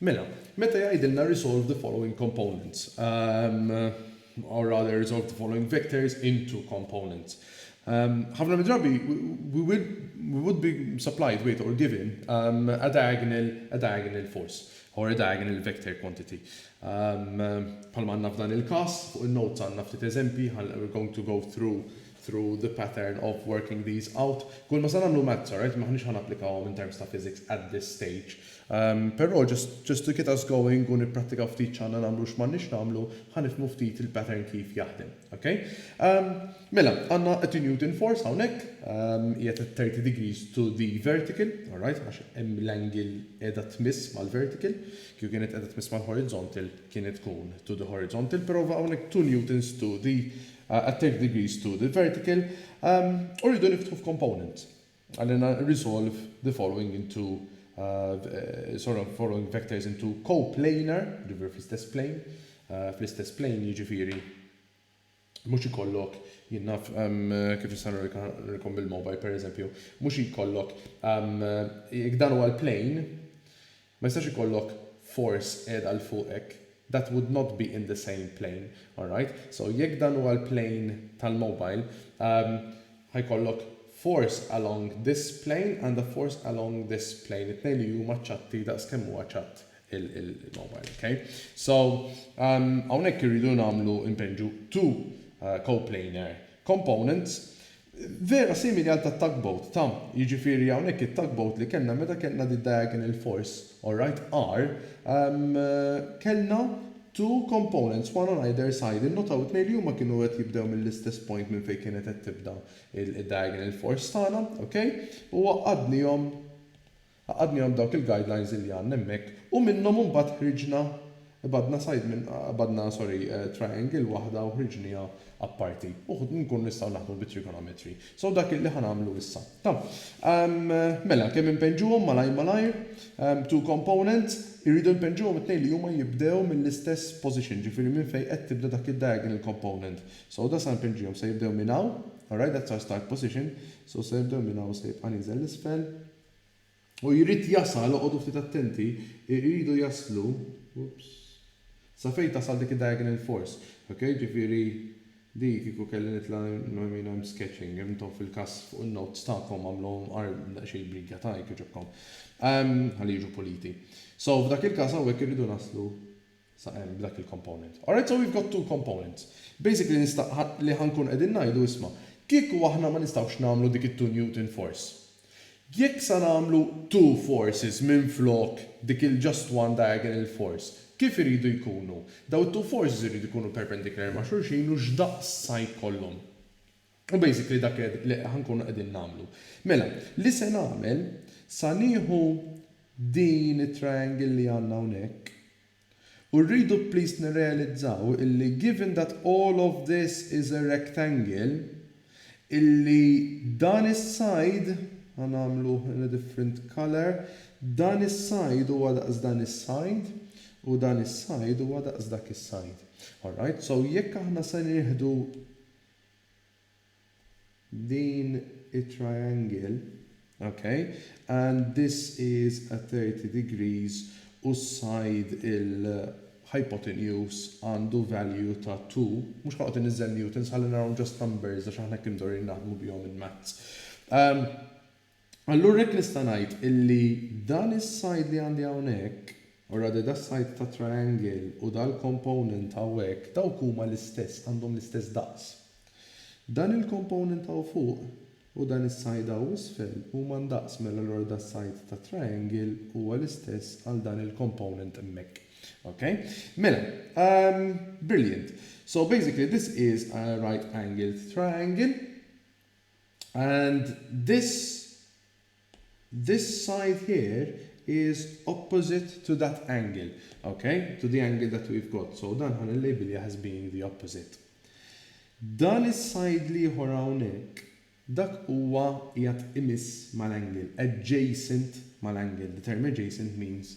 Mela, meta jgħidilna resolve the following components, um, or rather resolve the following vectors into components. Um, ħafna midrabi, we, will, we would be supplied with or given um, a, diagonal, a diagonal force or a diagonal vector quantity. Bħalma għandna f'dan il-każ, fuq in-notes għandna ftit eżempji, ħa we're going to go through through the pattern of working these out. Kull ma sa nagħmlu maths, alright, m'aħniex ħa napplikawhom in terms ta' physics at this stage. Però just just to get us going u nipprattikaw ftit x'għandna nagħmlu u x'm'għandniex nagħmlu, ħa nifhmu ftit il-pattern kif jaħdem. Ok? Mela, għandna attenuating force hawnhekk, hija ta' 30 degrees to the vertical, alright, għax hemm l-angle qiegħda tmiss mal-vertical. Kieku kienet qiegħda tmiss mal-horizontal kienet tkun to the horizontal, prova hawnhekk two newtons to the at thirty degrees to the vertical. U rridu niftħu f'component. Għalina resolve the following into sorry following vectors into coplanar, jiġifieri fl-istess plane, fl-istess plane jiġifieri. Mhux ikollok, jien naf kif nista' nurikom bil-mobile pereżempju, mhux ikollok, jekk dan huwa l-plane, ma jistax ikollok force qiegħda 'l fuq hekk, that would not be in the same plane, alright? So jekk dan huwa l-plane tal-mobile, ħa jkollok force along this plane and a force along this plane, it-tnejn li huma ċatti daqs kemm huwa ċatt il-mobile, ok? So, hawnhekk irridu nagħmlu npenġu two coplanar components vera simili għal tat-tugboat, ta? Jiġifieri hawnhekk it-tugboat li kellna meta kellna d-diagonal force, alright, R, kellna two components, one on either side. Innotaw it-tnejn li huma kienu qed jibdew mill-istess point minn fejn kienet qed tibda d-diagonal force tagħna, ok? U għaqqadnihom Għaqadnihom dawk il-guidelines illi għandna hemmhekk u minnhom imbagħad ħriġna, qbadna side minn, qbadna sorry, triangle waħda u ħriġnieha apparti u nkunu nistgħu naħdmu bit-trigonometry. So dak illi ħa nagħmlu issa. Ta. Mela, kemm inpennġuhom malajr malajr? Two components, irridu npennġuhom it-tnejn li huma jibdew mill-istess position, ġifieri minn fejn qed tibda dak id-diagonal component. So da sa npennġihom, se jibdew minn hawn, alright that's our start position, so se jibdew minn hawn u se jibqa' nieżel 'l isfel, U jrid jasal, oqogħdu ftit attenti, iridu jaslu, oops, sa fejn tasal dik id-diagonal force, ok, ġifieri di kieku kelli nitla', I mean I'm sketching, intom fil-każ fuq in-notes tagħkom għamluhom daqsxejn b'riga ta' hekk jogħġobkom, ħalli jiġu puliti. So f'dak il-każ hawnhekk irridu naslu, sa hemm b'dak il-component. Alright so we've got two components. Basically nista' li ħa nkunu qegħdin ngħidu isma' kieku aħna ma nistgħux nagħmlu dik it-two Newton force. Jekk sa nagħmlu two forces minflok dik il-just one diagonal force, kif iridu jkunu? Daw it-two forces iridu jkunu perpendicular ma' xulxin u x'daqs sa jkollhom? U basically dak qed li ħa nkunu qegħdin nagħmlu. Mela, li se nagħmel, sa nieħu din it-triangle li għandna hawnhekk, u rridu please nirrealizzaw illi given that all of this is a rectangle, illi dan is-side, ħa nagħmluh in a different colour, dan is-side huwa daqs dan is-side, u dan is-side huwa daqs dak is-side. Alright, so jekk aħna se nieħdu Din hi triangle, ok, and this is a 30 degrees u s-side il-hypotenuse għandu value ta' 2, mhux ħanoqgħod inniżżel newtons ħalli narahom just numbers għax aħna hekk imdorrijin naħdmu bihom in maths. Allura hekk nista' ngħid illi dan is-side li għandi hawnhekk, already das-side tat-triangle u dal-component hawnhekk dawk huma l-istess, għandhom l-istess daqs. Dan il-component hawn fuq u dan is-side hawn isfel huma ndaqs mela allura das-side tat-triangle huwa l-istess għal dan il-component hemmhekk. Ok? Mela, ehm, brilliant. So basically this is a right angled triangle. And this this side here is opposite to that angle, ok, to the angle that we've got, so dan ħa nillejbiljah as being the opposite. Dan is-side l-ieħor hawnhekk, dak huwa qiegħed imiss mal-angle, adjacent mal-angle, the term adjacent means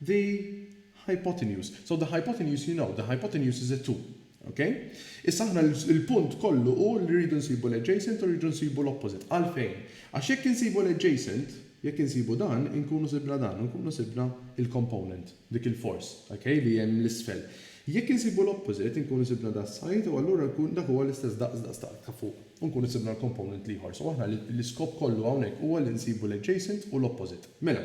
The hypotenuse. So the hypotenuse you know, the hypotenuse is a two. Ok? Issa aħna l-punt kollu hu li rridu nsibu l-adjacent u rridu nsibu l-opposite. Għalfejn? Għax jekk insibu l-adjacent, jekk insibu dan, inkunu sibna dan, inkunu sibna l-component, dik il-force, ok, li hemm 'l isfel. Jekk insibu l-opposite, inkunu sibna da s-side u allura nkun dak huwa l-istess daqs daqs dak ta' fuq u nkunu sibna l-component l-ieħor. So aħna l-iskop kollu hawnhekk huwa li nsibu l-adjacent u l-opposite. Mela.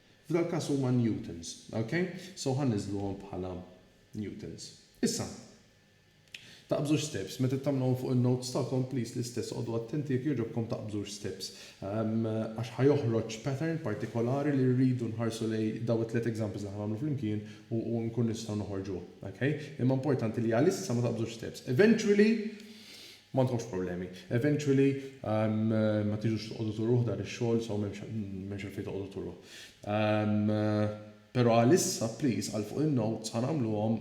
F'dal-każ huma newtons. Ok? So ħa niżluhom bħala newtons. Issa, taqbżux steps. Meta tagħmluhom fuq in-notes tagħkom, please l-istess oqogħdu attenti jekk jogħġobkom taqbżux steps. Għax ħa joħroġ pattern partikolari li rridu nħarsu lejn dawn it-tliet examples li ħa nagħmlu flimkien u u nkunu nistgħu noħorġuh. Ok? Imma importanti li għalissa ma taqbżux steps. Eventually, Ma għandkomx problemi. Eventually ma tiġux toqogħdu turuh dan ix-xogħol so m'hemmx għalfejn toqogħdu turuh. Però għalissa please għal fuq in-notes ħa nagħmluhom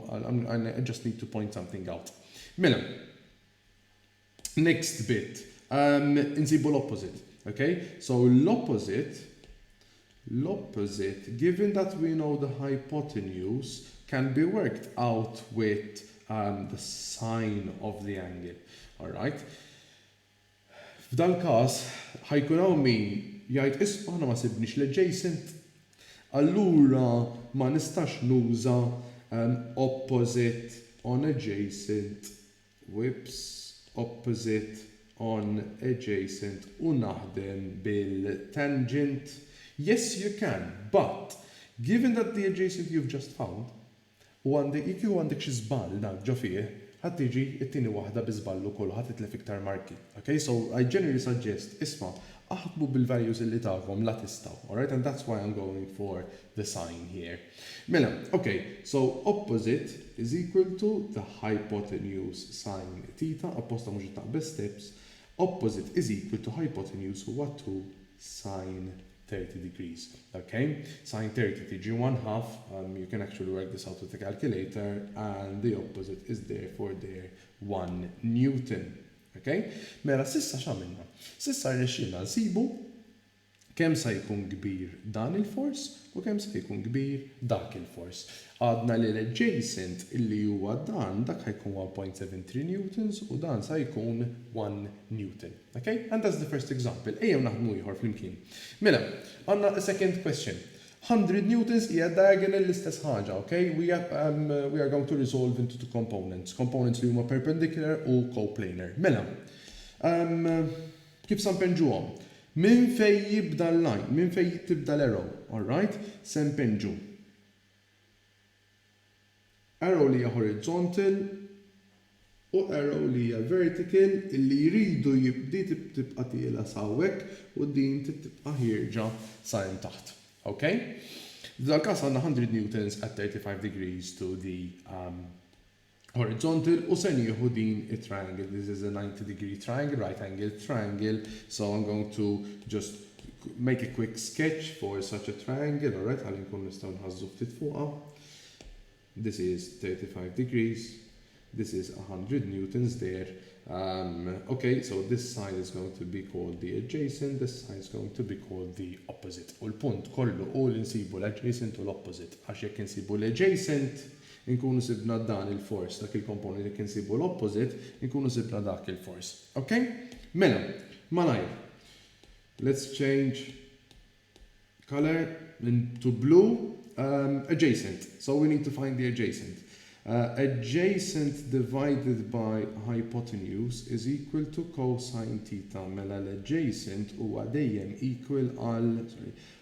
I just need to point something out. Mela, next bit, insibu l-opposite, ok? So l-opposite l-opposite, given that we know the hypotenuse can be worked out with the sine of the angle. Alright. F'dal-każ, ħa jkun hawn min jgħid isma' aħna ma sibniex l-adjacent, allura ma nistax nuża opposite on adjacent webs opposite, on, adjacent u naħdem bil tangent yes you can but given that the adjacent you've just found u għandek jekk kieku għandek xi żball dak ġo fih ħa tiġi t-tieni waħda bi żball ukoll u ħa titlef iktar marki ok so I generally suggest isma' aħdmu bil values illi tagħhom la tistgħu alright and that's why I'm going for the sign here. Mela, ok, so opposite is equal to the hypotenuse sin theta, apposta mhux qed taqbeż steps, opposite is equal to hypotenuse huwa 2 sin 30 degrees. Ok, sin 30 tiġi 1 half, um, you can actually work this out with a calculator, and the opposite is therefore there 1 Newton. Ok, mela sissa x'għamilna? Sissa rnexxielna nsibu Kemm sa jkun kbir dan il-fors u kemm sa jkun kbir dak il-fors? Għadna li l-adjacent li huwa dan dak ħa jkun one point seven three newtons u dan sa jkun one newton. Ok? And that's the first example. Ejjew naħdmu ieħor flimkien. Mela, għandna a second question. Hundred newtons hija diagonal l-istess ħaġa, ok? We we are going to resolve into two components, components li huma perpendicular u coplanar. Mela, umm, Kif sa npennġuhom? Minn fejn jibda l-line? Minn fejn tibda l-arrow? Alright, se npennġu arrow li hija horizontal u arrow li hija vertical illi jridu di tibqa' tiela' sa hawnhekk u din trid tibqa' ħierġa sa hemm taħt. Ok? F'dal-każ għandna 100 newtons at 35 degrees to the horizontal u se nieħu din it-triangle, this is a 90 degree triangle, right angled triangle, so I'm going to just make a quick sketch for such a triangle, alright, ħalli nkun nistgħu nħazzu ftit fuqha. This is 35 degrees, this is 100 newtons there, um, okay, so this side is going to be called the adjacent, this side is going to be called the opposite. U l-punt kollu u l-insibu l-adjacent u l-opposite, għax jekk insibu l-adjacent, Inkunu sibna dan il-force, dak il-component jekk insibu l-opposite, inkunu sibna dak il-force. Ok? Mela, malajr. Let's change color to blue. Um, adjacent. So we need to find the adjacent. Uh, adjacent divided by hypotenuse is equal to cosine theta mela l-adjacent huwa dejjem equal għal sorry,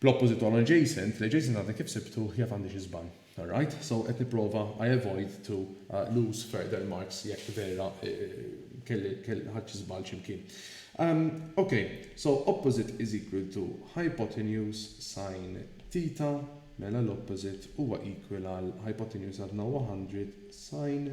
Bl-opposite għal adjacent, l-adjacent għadni kif sibtuh jaf għandi xi żball. Alright, so qed nipprova I avoid to lose further marks jekk vera kelli ħadt xi żball xi mkien. Ok, so opposite is equal to hypotenuse sin theta, mela l-opposite huwa equal għal hypotenuse għadna 100 sin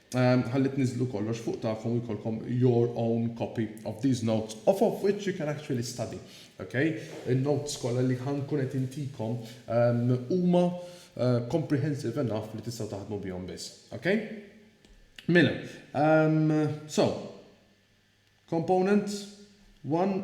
Ħalli tniżżlu kollox fuq tagħkom u jkollkom your own copy of these notes off of which you can actually study. Ok? In-notes kollha li ħa nkun qed intikom huma comprehensive enough li tistgħu taħdmu bihom biss. Ok? Mela, so, component one,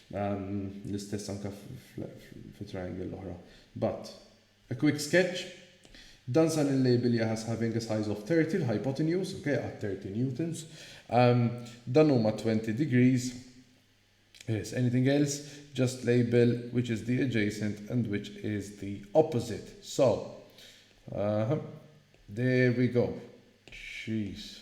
L-istess anke fit-triangle l-oħra. But. A quick sketch, Dan sa nillabel jah as having a size of 30 l-hypotenuse, ok, għad 30 newtons. Dan huma 20 degrees. Yes, anything else? Just label which is the adjacent and which is the opposite. So, aha, there we go. Jeez.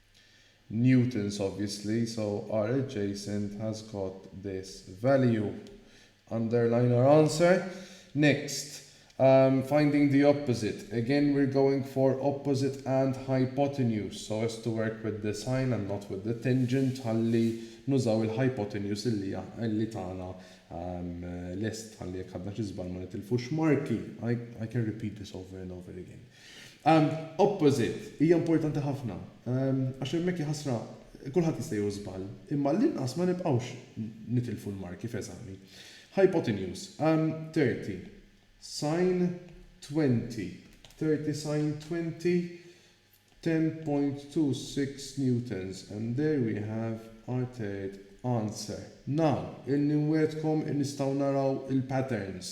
Newton's obviously, so are adjacent has got this value. Underline our answer. Next, um, finding the opposite. Again we're going for opposite and hypotenuse so as to work with the sine and not with the tangent ħalli nużaw il-hypotenuse illi illi tagħna um, lest ħalli jekk għadna xi żball ma nitilfux marki. I, I can repeat this over and over again. Opposite, hija importanti ħafna. Għax hemmhekk jaħasra kulħadd jista' jieħu żball, imma għall-inqas ma nibqgħux nitilfu l-marki f'eżami. Hypotenuse, 30 sine 20, 30 sine 20, 10.26 newtons and there we have our third answer. Now, illi nwiegħdkom nistgħu naraw il-patterns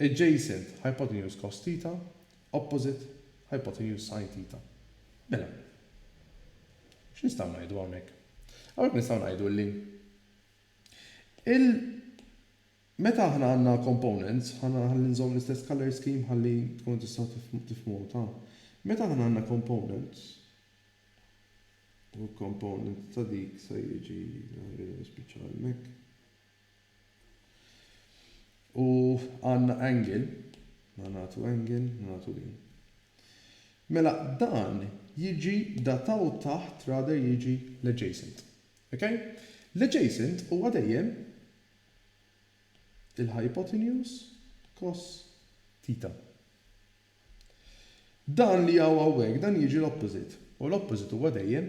Adjacent hypotenuse cos theta, opposite hypotenuse sin theta. Mela, x'nistgħu ngħidu hawnhekk? Hawnhekk nistgħu ngħidu li il meta aħna għandna components, ħalli nżomm l-istess colour scheme ħalli tkunu tistgħu tifhmuha ta'. Meta aħna għandna components, u component ta' dik se jiġi jispiċċa hemmhekk. U għandna angle, mela nagħtu angle, mela nagħtu din. Mela dan jiġi dataw taħt rather jiġi l-adjacent. Ok? L-adjacent huwa dejjem il-hypotenuse cos theta. Dan li hawn hawnhekk dan jiġi l-opposite, u l-opposite huwa dejjem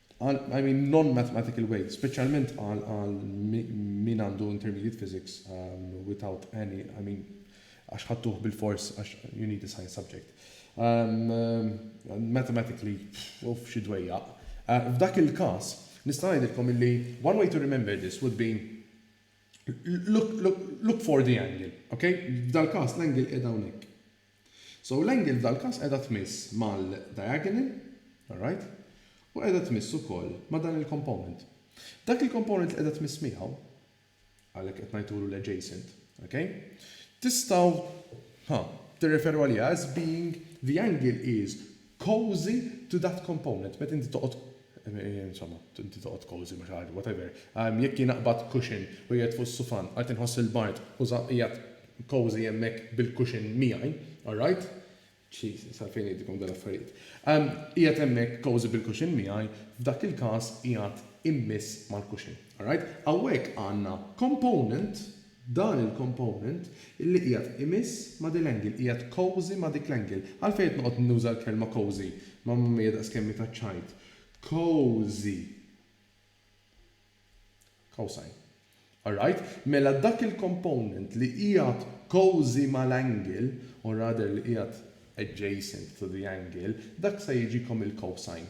Għal, I mean non-mathematical way, speċjalment għal għal min għandu intermediate physics without any, I mean għax ħadtuh bilfors għax you need a science subject. Mathematically, uff xi dwejjaq. F'dak il-każ, nista' ngħidilkom illi one way to remember this would be look, look, look for the angle, okay? F'dal-każ l-angle qiegħda hawnhekk. So l-angle f'dal każ qiegħda tmiss mal-diagonal, alright, u qiegħda tmiss ukoll ma' dan il-component. Dak il-component li qiegħda tmiss miegħu, għalhekk qed ngħidulu l-adjacent, ok, tistgħu, ha, tirreferu għaliha as being the angle is cozy to that component, meta inti toqgħod, insomma, inti toqgħod cozy ma' xi ħaġa, whatever. Jekk jien aqbad cushion u qiegħed fuq is-sufan, qed inħoss il-bard u żgħar qiegħed cozy hemmhekk bil-cushion miegħi, alright? Jesus, għalfejn ngħidilkom dawn l-affarijiet. Qiegħed hemmhekk cozy bil-cushion miegħi, f'dak il-każ qiegħed immiss mal-cushion, alright? Hawnhekk għandna component, Dan il-component illi qiegħed imiss ma' din l-angle, qiegħed cozy ma' dik l-angle. Għalfejn qed noqgħod nuża l-kelma cozy? Mamma mia daqs kemm hi taċċajt. Cozy. Cosine. All right? Mela dak il-component li qiegħed cozy mal-angle, or rather li qiegħed adjacent to the angle, dak se jiġikom il-cosine.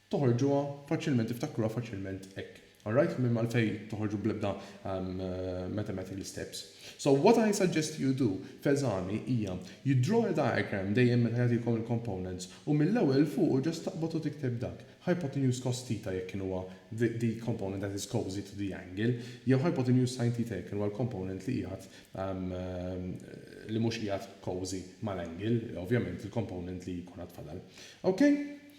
Toħorġuha faċilment tiftakruha faċilment hekk. Alright? Minn għalfejn toħorġu bl-ebda mathematical steps. So what I suggest you do f'eżami hija you draw a diagram dejjem meta jagħtikom il-components u mill-ewwel 'l fuqu just taqbad u tikteb dak, hypotenuse cos theta jekk kien huwa the component that is cosy to the angle jew hypotenuse sin theta jekk kien huwa l-component li qiegħed li mhux qiegħed cosy mal-angle, ovvjament il-component li jkun għad fadal. Ok?